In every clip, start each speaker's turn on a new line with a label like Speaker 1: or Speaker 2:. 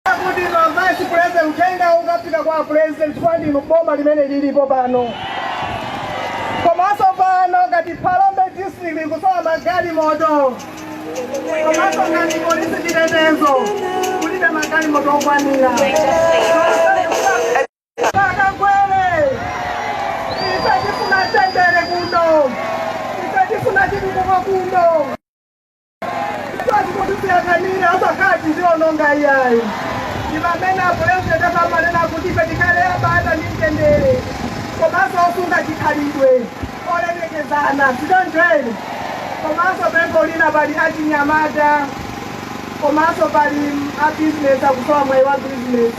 Speaker 1: kuti a vice president uthenga ukafika kwa pulezidenti chifukwa ndinu boma limene lilipo pano komanso pano ngati phalombe district ikusowa magalimoto komanso ngati polisi chitetezo kulibe magalimoto okwanira akagwere ife tifuna mtendere kuno ife tifuna chitukuko kuno Sikuti kuti kuyang'anira akatiwonongera iyayi ndi pamene apulezidenti amanena kuti ife tikhale abata ndi mtendere komanso osunga chikhalidwe olemekezana sichoncho komanso pempho lina pali achinyamata komanso pali a business akusowa mwayi wa business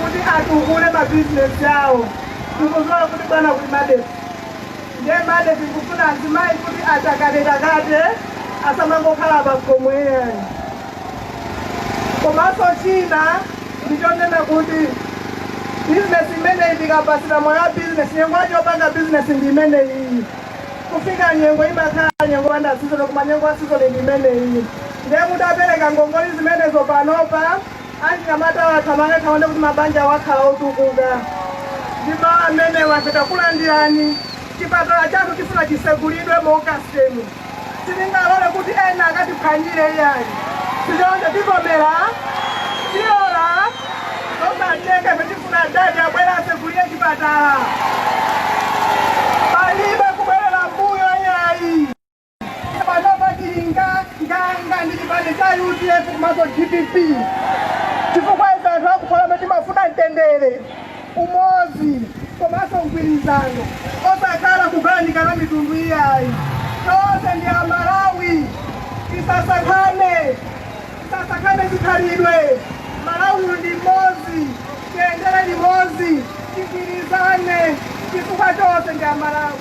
Speaker 1: kuti atukule ma business awo tikuziwa kuti bwana kulimabe Ndiye mbale tikufuna azimayi kuti atakatetakate asamangokhala pakhomo iyayi. Komanso china ndichonena kuti bizinesi imeneyi tikapatsidwa mwayi wa bizinesi nyengo yake yopanga bizinesi ndi imeneyiyi. Kufika nyengo imakhala nyengo yopanda sizoni koma nyengo ya sizoni ndi imeneyiyi. Ndiye kuti apereke ngongole zimenezo panopa Achinyamatawa athamange awone kuti mabanja awo akhale otukuka. Ndi mawu amenewa ife takulandirani. Chipatala chathu tifuna chisegulidwe mu Augustemu. Sitingalore kuti ena akatiphwanyire iyayi. Sichoncho tivomera? Tilora? Zosatheka ife tifuna adadi abwere asegulire chipatala. Palibe kubwerera mbuyo iyayi. panopa tili nganganga ndi chipani cha udf komanso dpp chifukwa ife anthu aku phalombe timafuna mtendere umodzi komanso mgwirizano osakhala kugawanikana mitundu iyayi tonse ndi amalawi tisasankhane tisasankhane chikhalidwe malawi uyu ndi mmodzi tiyendere limodzi tigwirizane chifukwa tonse ndi amalawi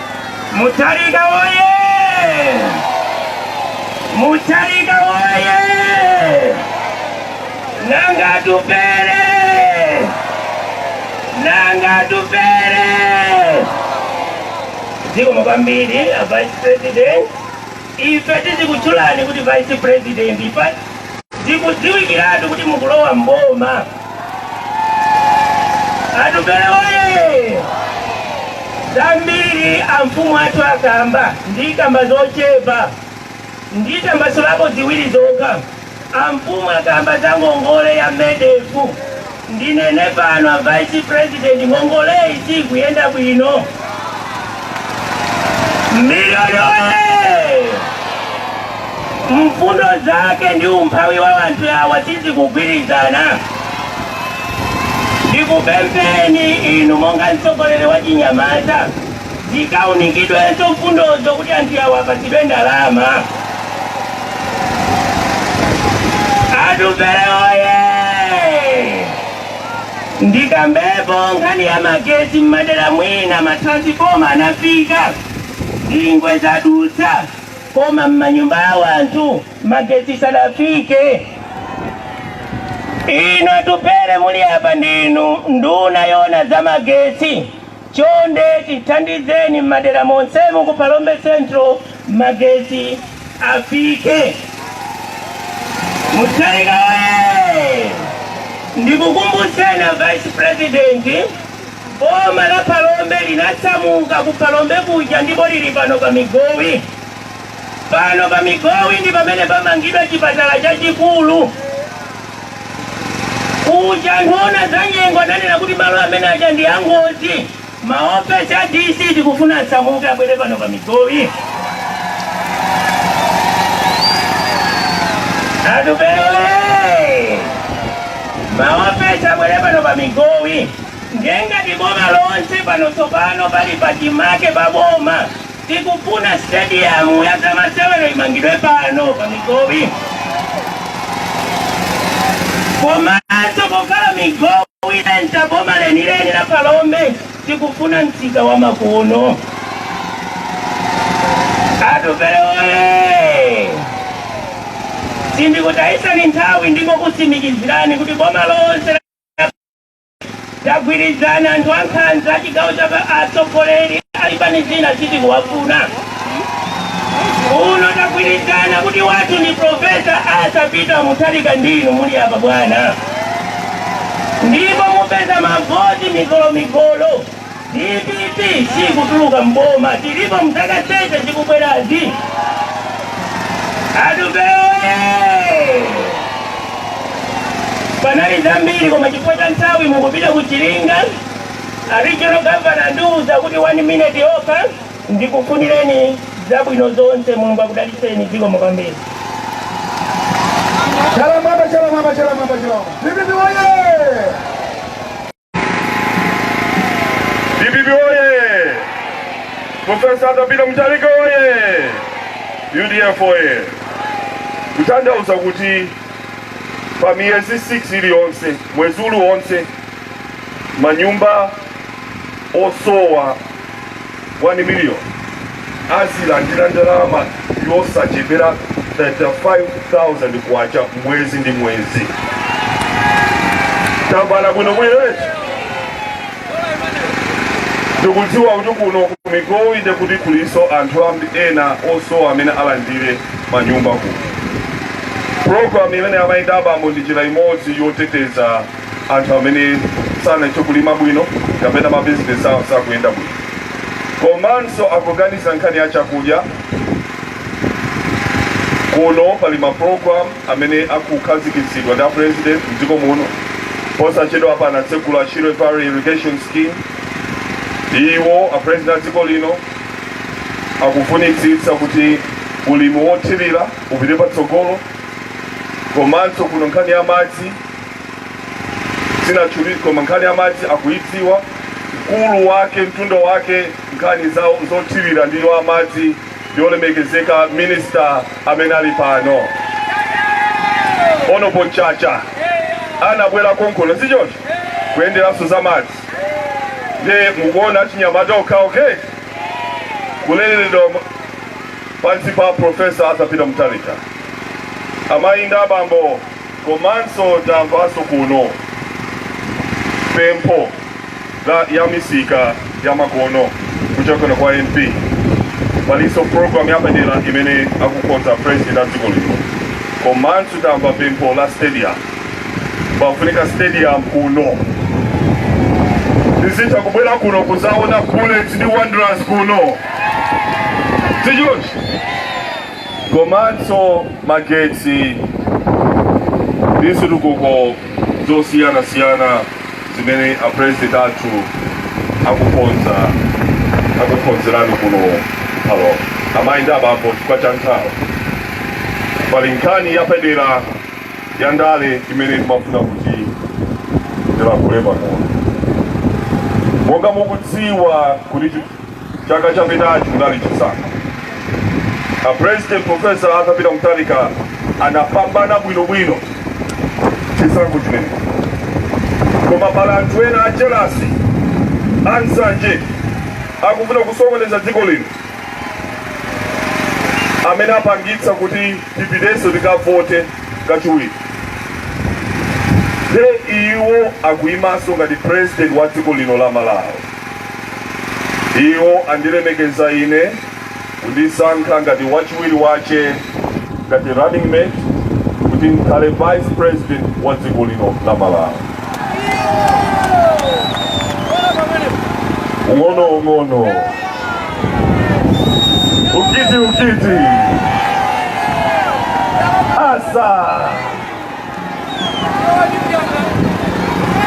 Speaker 1: Mutharika woye! Mutharika woye! Nanga Atupele! Nanga Atupele! Zikomo kwambiri a Vice President. Ife tizikutchulani kuti vice president zikudziwikiratu kuti mukulowa mboma. Atupele oye! Zambiri amfumu athu akamba ndikamba zochepa nditambasulepo ziwiri zokha. Amfumu akamba za ngongole ya MEDF ndinene pano a vice president ngongoleyi siikuyenda bwino. Migowi oye! Mfundo zake ndi umphawi wa anthu awa sizikugwirizana. Ndikupempheni inu monga mtsogoleri wa chinyamata zikawunikidwenso mfundozo kuti anthu awa apatsidwe ndalama. Atupele oye! Ndikambepo nkhani ya magetsi m'madera mwina matransiforma anafika zingwe zadutsa koma m'manyumba a wanthu magetsi sadafike. Inu Atupele muli apa ndinu nduna yoona za magetsi Chonde tithandizeni m'madera monsemu ku Phalombe Central magetsi afike. Mutharika oye! Ndikukumbutseni a Vice President, boma la Phalombe linasamuka ku Phalombe kuja ndipo lili pano pa Migowi. Pano pa Migowi ndi pamene pamangidwe chipatala chachikulu. Kuja anthu owona zanyengo adanena kuti malo amene aja ndi angozi. Ma ofesi a DC tikufuna asamuke abwere pano pa Migowi. Atupele oye! Ma ofesi abwere pano pa Migowi. Ndiye ngati ndi boma lonse pano tsopano pali pachimake pa boma. Tikufuna stadium ya zamasewero imangidwe pano pa Migowi. Komanso kukhala Migowi ndiye boma lenileni la Phalombe, tikufuna msika wa makono. Atupele oye! Sindikutayisani nthawi ndikukutsimikizirani kuti boma lonse Tagwirizana anthu ankhanza achigawo, atsogoleri a zipani zina sitikuwafuna uno tagwirizana kuti wathu ndi profesa Arthur Peter Mutharika ndi inu muli apa bwana ndipo mupeza mavoti migolomigolo Dpp sikutuluka mboma tilipo mzaka zonse zikubwerazi. Atupele oye! panali zambiri koma chifukwa cha nthawi mukupita ku Chiringa. A regional governor andiuza kuti one minute yokha ndikufunireni zabwino zonse Mulungu akudalitseni zikomo kwambiri. Chalamwamba, chalamwamba, chalamwamba, chalamwamba. Dpp woye! DPP oye! Profesa Arthur Peter Mutharika oye! UDF oye! Kuthandauza kuti pa miyezi 6 iliyonse mwezi uliwonse manyumba osowa 1 million azilandira ndalama yosachepera 35,000 kwacha mwezi ndi mwezi tambala bwino bwino eti tikudziwa kuti kuno ku Migowi nde kuti kulinso anthu ambi- ena osowa amene alandire manyumba kuno programu imene amayita abambo ndi njira imodzi yoteteza anthu amene sanachite kulima bwino kapena mabizinesi awo sakuyenda bwino komanso akuganiza nkhani ya chakudya kuno pali maprogram amene akukhazikitsidwa ndi apresident mdziko muno posachedwa apa anatsegula Shire Valley irrigation scheme iwo apresident a dziko lino akufunitsitsa kuti ulimi wothirira upite patsogolo komanso kuno nkhani ya madzi sinathe koma nkhani ya madzi akuyidziwa mkulu wake mtundu wake nkhani za zothirira ndi wa madzi olemekezeka minista amene ali pano ono posachedwa anabwera konkuno si choncho kuyenderanso za madzi nde mukuona achinyamata okha okay kuleredwa pansi pa profesa Arthur Peter Mutharika amayi ndi abambo Komanso tamvanso kuno pempho la ya misika ya makono kuchokera kwa MP. Palinso program yapadera imene akukonza president a dziko lino. Komanso tamva pempho la stadium. Pafunika stadium kuno. Tizitha kubwera kuno kuzaona Bullets ndi Wanderers kuno. Si choncho? komanso magetsi ndi zitukuko zosiyanasiyana zimene a president athu akukonza akukonzerani kuno pano amayi ndi abambo chifukwa cha nthawi pali nkhani yapadera ya ndale imene ndimafuna kuti ndilankhule pang'ono monga mukudziwa kuti chaka chapitachi kunali chisankho a president profesa arthur peter mutharika anapambana bwinobwino chisankho chimenecho koma pali anthu ena ajelasi ansanje akufuna kusokoneza dziko lino amene apangitsa kuti tipitenso tikavote kachiwiri nde iwo akuyimaso ngati president wa dziko lino la malawi Iwo andilemekeza ine, kundisankha ngati wachiwiri wache, ngati running mate, kuti ndikhale vice president wa dziko lino la Malawi. Ung'ono ung'ono, ukiti ukiti, asa